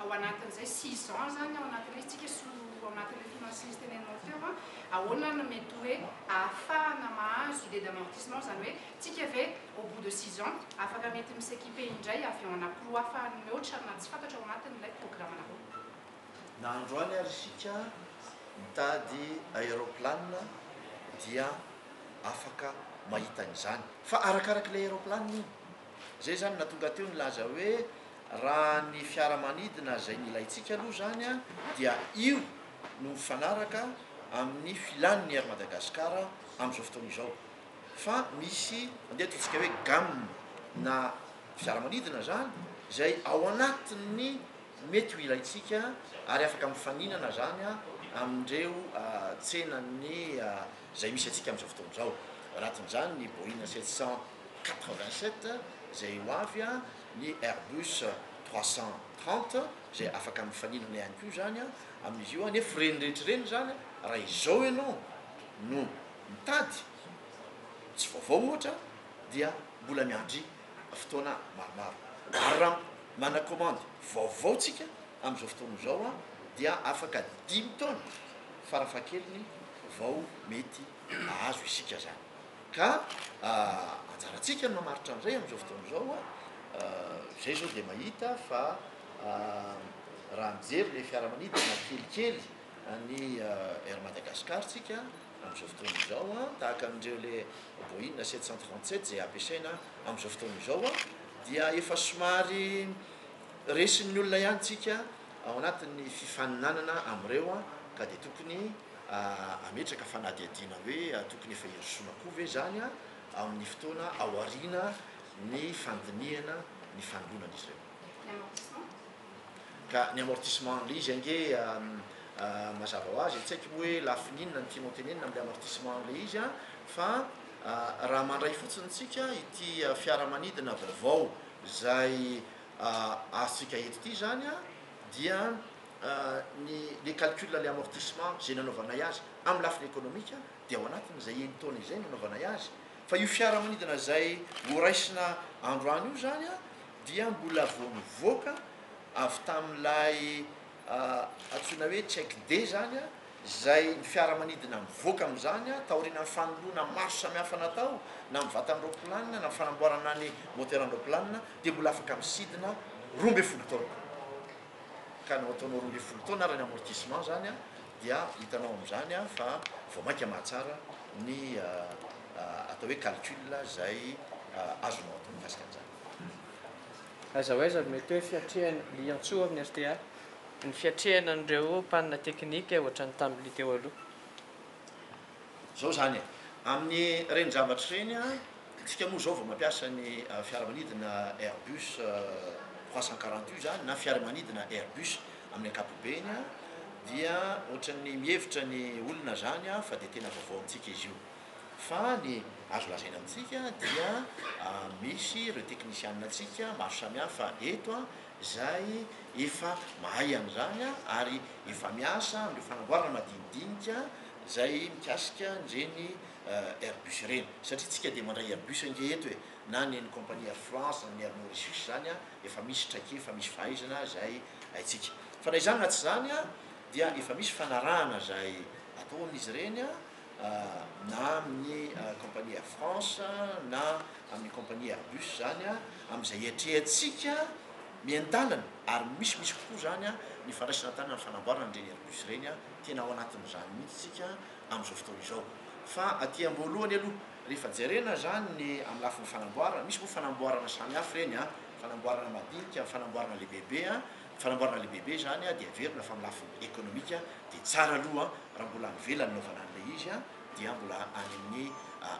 ao anatin'izay six ans izany ao anatin'ilay izy tsika sy ao anatin'ilay finances teneninao teo an, ahoana no mety hoe ahafahana mahazo idée d'amortissement izany hoe tsika ve au bout de six ans afaka mety mi s'equiper indray avy eo anapro afahany mihoatra na tsy fantatra ao anatin'ilay programanareo. Na androany ary isika mitady aéroplane dia afaka mahita an'izany fa arakarak'ilay aéroplane io. Izay izany no nahatonga teo nilaza hoe raha ny fiaramanidina izay nilaintsika aloha izany dia io no mifanaraka amin'ny filan'ny Air Madagascar amin'izao fotoana izao. Fa misy, andeha ataontsika hoe gamme na fiaramanidina izany izay ao anatin'ny mety ho ilaintsika ary afaka mifaninana izany amin'ireo tsenan'ny izay misy antsika amin'izao fotoana izao. Ao anatin'izany ny Boeing 787 izay ho avy an, ny Airbus 330 izay afaka mifaninana ihany koa izany an, amin'izy io an, nefa ireny rehetra ireny izany an, raha izao ianao no mitady tsy vaovao ohatra dia mbola miandry fotoana maromaro. Ary raha. Mana commande vaovao tsika amin'izao fotoana izao an, dia afaka dimy taona farafahakeliny vao mety ahazo isika zany. Ka anjarantsika ny mamaritra an'izay amin'izao fotoana izao an, izay izao dia mahita fa raha mijery ilay fiaramanidina kelikely, Any Air Madagascar tsika amin'izao fotoana izao tahaka an'ireo le Boeing sept cent trente sept izay ampiasaina amin'izao fotoana izao dia efa somary resin'ny olona ihany tsika ao anatin'ny fifaninanana amin'ireo ka dia tokony hametraka fanadihadiana hoe tokony efa hirosoana koa ve izany amin'ny fotoana ao aoriana ny fandinihana ny fanolonan'izy ireo. Ka ny amortissement an'le izy ange mazava ho azy e, tsy haiko hoe lafiny inona no tianao tenenina amin'le amortissement an'le izy an, fa raha mandray fotsiny tsika ity fiaramanidina vaovao izay azontsika eto ity zany an, dia ny le calcul an'le amortissement izay nanaovanay azy amin'ny lafiny ekonomika dia ao anatin'izay enin-taona izay no nanaovanay azy, fa io fiaramanidina izay horaisina androany io zany an, dia mbola vao nivoaka avy tamin'ilay antsoina hoe check day izany, izay ny fiaramanidina mivoaka amin'izany taorianan'ny fanoloana marche samihafa natao na amin'ny vatan'ny roaplanina na fanamboarana ny moteran-droaplanina dia mbola afaka misidina roa ambin'ny folo taona ka nao ataonao roa ambin'ny folo taona ary ny amortissement izany dia hitanao amin'izany fa vao mainka mahatsara ny atao hoe calcul izay azonao atao mikasika an'izany. Aiza ho aiza no mety hoe fiatrehana, Liantsoa amin'ny rta, ny fiatrehana an'ireo panne technique ohatra ny tamin'ny teo aloha? Izao izany e, amin'ireny zavatra ireny isika moa izao vao mampiasa ny fiaramanidina Airbus trois cent quarante io izany na fiaramanidina Airbus amin'ny ankapobeny dia ohatran'ny mihevitra ny olona izany fa dia tena vaovao amintsika izy io. Fa ny azo lazaina amintsika dia misy ireo teknisianina antsika maro samihafa eto izay efa mahay an'izany ary efa miasa amin'ireo fanamboarana madinidinika izay mikasika an'ireny Airbus ireny. Satria isika dia mandray Airbus ange eto e! Na ny an'ny compagnie Air France na ny Air Mauritius izany efa misy traikefa, misy fahaizana izay haintsika. Fa na izany na tsy izany dia efa misy fanarahana izay ataon'izy ireny na amin'ny compagnie Air France na amin'ny compagnie Airbus zany a, amin'izay iatrehantsika mientanana ary misy misy kokoa zany a ny fandraisana tanana ny fanamboarana an'ireny Airbus ireny a, tena ao anatin'izany mihitsy tsika amin'izao fotoana izao fa aty am-boalohany aloha rehefa jerena zany ny amin'ny lafiny fanamboarana, misy moa fanamboarana samihafa ireny a, fanamboarana madinika, fanamboarana lehibebe a, Fanamboarana lehibe be izany dia averina fa amin'ny lafiny ekonomika dia tsara aloha raha mbola any ivelany anaovana an'ilay izy dia mbola any amin'ny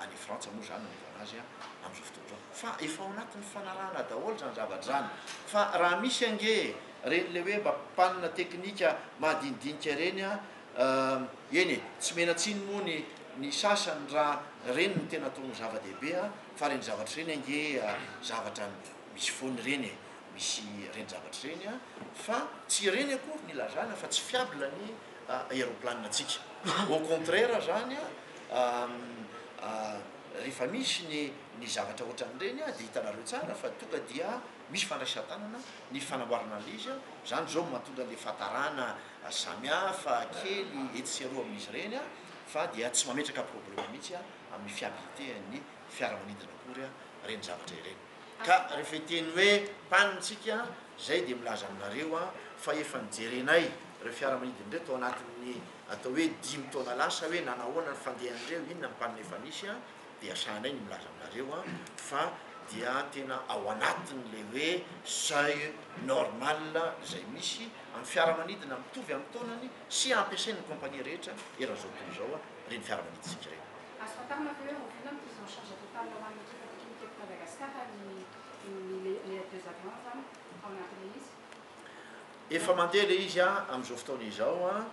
any Frantsa moa izany no anaovana azy amin'izao fotoana izao fa efa ao anatin'ny fanarahana daholo izany zavatra izany fa raha misy ange ireny ilay hoe mba mpanina teknika madinidinika ireny eny e tsy menan-tsiny moa ny ny sasany raha ireny no tena atao ho zava-dehibe fa ireny zavatra ireny ange zavatra misy foana ireny e misy ireny zavatra ireny an, fa tsy ireny akory ny ilazana fa tsy fiable ny aeroplanina antsika, au contraire izany an, rehefa misy ny ny zavatra ohatran'ireny an, dia hitanareo tsara fa tonga dia misy fandraisan-tanana ny fanamboarana an'ilay izy an, izany izao no mahatonga an'ilay fahatarana samy hafa kely etsy sy eroa amin'izy ireny an, fa dia tsy mametraka problème mihitsy an, amin'ny fiabilité an'ny fiaramanidina akory an, ireny zavatra ireny. Ka rehefa hiteny hoe panne tsika zay dia milaza aminareo aho fa efa nijerenay ireo fiaramanidina ireo tao anatin'ny atao hoe dimy taona lasa hoe nanahoana ny fandehan'ireo, inona ny panne efa nisy an, dia sahanay ny milaza aminareo an fa dia tena ao anatin'ilay hoe seuil normal izay misy amin'ny fiaramanidina mitovy amin'ny taonany sy ampiasain'ny compagnie rehetra eran'izao tontolo izao an. ireny fiaramanidintsika ireny. Azo fantarina ve hoe oviana ny prise en charge totale ho an'ny ekipa teknika eto Madagasikara ny ny le les deux avions zany ao anatin'ilay izy? Efa mandeha ilay izy an, amin'izao fotoana izao an,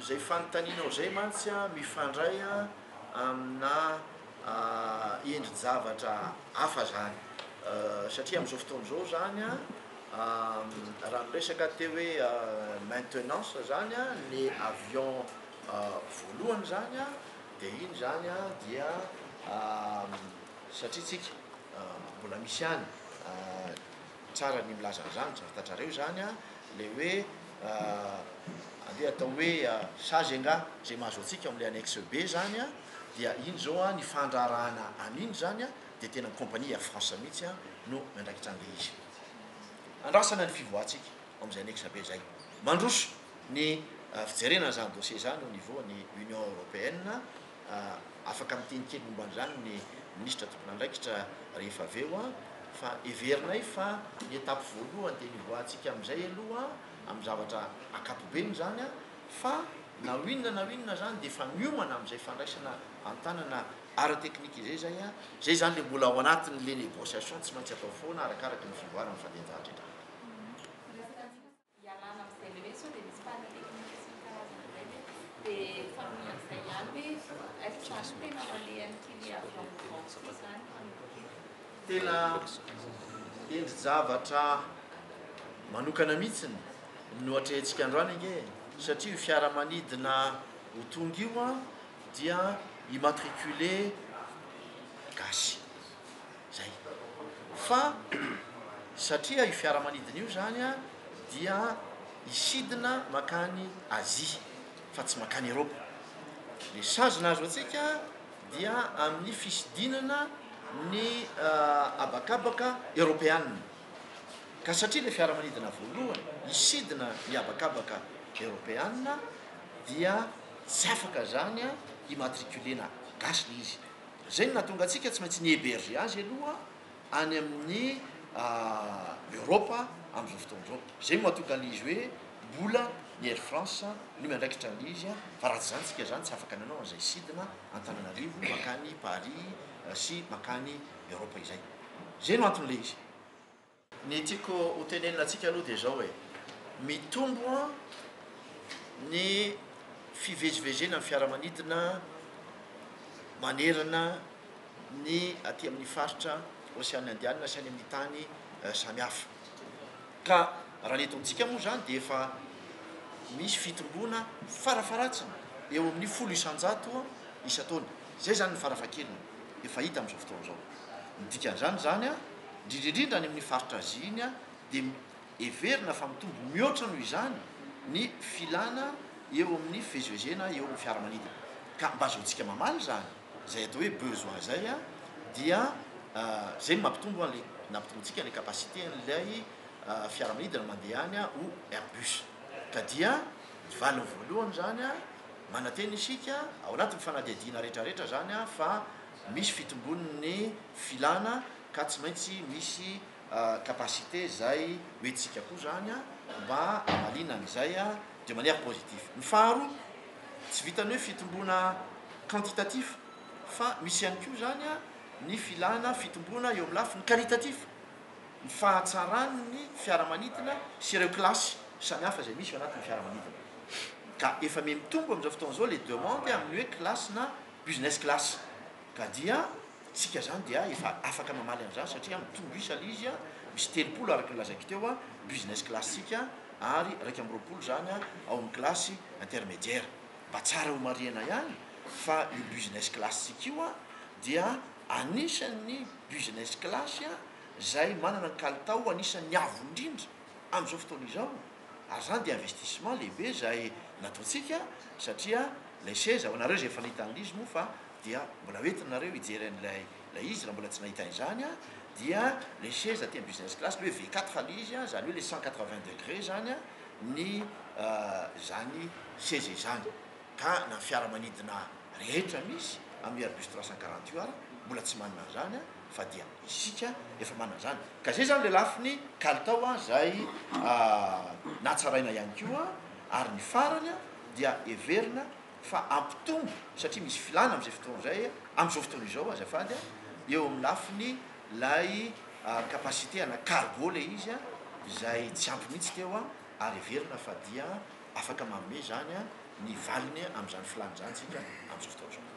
izay fanontanianao izay mantsy an mifandray an aminà endri-javatra hafa izany satria amin'izao fotoana izao izany an Raha miresaka te hoe maintenance zany a, le avion voalohany zany a, de iny zany a dia satria tsika mbola misy ihany tsara ny milaza an'zany zany fantatrareo zany a, le hoe andeha atao hoe sazy angaha zay mahazo antsika ao amle annexe be zany a, dia iny zao a ny fandraharahana an'iny zany a de tena ny compagnie Air France mihitsy a no miandraikitra anle izy. Andrasana ny fivoahantsika ao amin'izay annexe be izay. Mandroso ny fijerena an'izany dossier izany au niveau ny Union Européenne. Afaka miteny kely momba an'izany ny Minisitra tompon'andraikitra rehefa avy eo fa heverinay fa ny étape voalohany dia hivoahantsika amin'izay aloha amin'ny zavatra ankapobeny izany fa na ho inona na ho inona izany dia efa miomana amin'izay fandraisana an-tanana Ara technique izay zay a. Zay zany le mbola ao anatiny le negociation tsy maintsy atao foana arakaraky ny fivoarany ny fandehanjahatry hatrany. Tena endri-javatra manokana mihitsiny no atrehintsika androany ange satria io fiaramanidina ho tonga io a dia immatriculé gasy zay fa satria io fiaramanidina io zany a dia hisidina makany Asie fa tsy makany Eropa le sazina azo antsika dia amin'ny fisidinana ny habakabaka eropeana ka satria le fiaramanidina voalohany hisidina ny habakabaka eropeana dia Tsy afaka zany a immatriculer na gasy le izy. Zay no nahatonga antsika tsy maintsy ni heberger azy aloha any amin'ny Europe amin'izao fotoana izao. Zay no mahatonga an'izy hoe mbola ny Air France no miandraikitra an'izy a. Fa raha tsy zany tsika zany tsy afaka nanao an'izay sidina Antananarivo mankany Paris sy mankany Europe izay. Zay no antony le izy. Ny tiako ho tenenina antsika aloha dia izao e, mitombo ny fivezivezena ny fiaramanidina manerana ny aty amin'ny faritra Oseana Indianina sy any amin'ny tany samihafa. Ka raha ny eto amintsika moa izany dia efa misy fitomboana farafaharatsiny eo amin'ny folo isan-jato isan-taona. Izay izany ny farafahakeliny efa hita amin'izao fotoana izao. Ny dikan'izany izany a! Indrindra indrindra any amin'ny faritra Azia iny dia heverina fa mitombo mihoatra noho izany ny filana eo amin'ny fivezivezena eo amin'ny fiaramanidina. Ka mba azahoantsika mamaly izany, izay atao hoe besoin izay dia izay no mampitombo an'ilay nampitombointsika ilay capacité an'ilay fiaramanidina mandeha any ho Airbus. Ka dia ny valiny voalohany izany, manantena isika ao anatin'ny fanadihadiana rehetrarehetra izany fa misy fitombon'ny filana. ka tsy maintsy misy capacité izay hoentintsika koa izany mba hamaliana an'izay de manière positive. Ny faharoa, tsy vitan'ny hoe fitomboana quantitatif fa misy ihany koa izany ny filana fitomboana eo amin'ny lafiny qualitatif, ny fahatsaran'ny fiaramanidina sy ireo kilasy samihafa izay misy ao anatin'ny fiaramanidina. Ka efa miha mitombo amin'izao fotoana izao ilay demande amin'ny hoe kilasina business class, ka dia tsika zany dia efa afaka mamaly an'izany satria mitombo isa ilay izy a, misy telopolo araka ny lazaiko teo a, business class tsika ary iraika amby roapolo zany a ao amin'ny classe intermediaire. Mba tsara homarihina ihany fa io business class tsika io a dia anisan'ny business class a izay manana ny kalitao anisan'ny avo indrindra amin'izao fotoana izao ary izany dia investissement lehibe izay nataontsika satria ilay seza, ho anareo izay efa nahita an'ilay izy moa fa dia mbola ho entinareo hijery an'ilay ilay izy raha mbola tsy nahita izany an, dia ilay seza aty amin'ny business class ilay hoe V quatre ilay izy an, izany hoe ilay cent quatre vingt degré izany an, ny izany seza izany ka na ny fiaramanidina rehetra misy amin'ny Airbus trois cent quarante io ary mbola tsy manana an'izany an, fa dia isika efa manana izany. Ka izay izany ilay lafiny kalitao an, izay natsaraina ihany koa, ary ny farany an dia heverina fa hampitombo satria misy filàna amin'izay fotoana izay, amin'izao fotoana izao azafady, eo amin'ny lafiny ilay capacité ana cargo ilay izy izay tsy ampy mihitsy teo ary heverina fa dia afaka manome izany ny valiny amin'izany filàna izany isika amin'izao fotoana izao.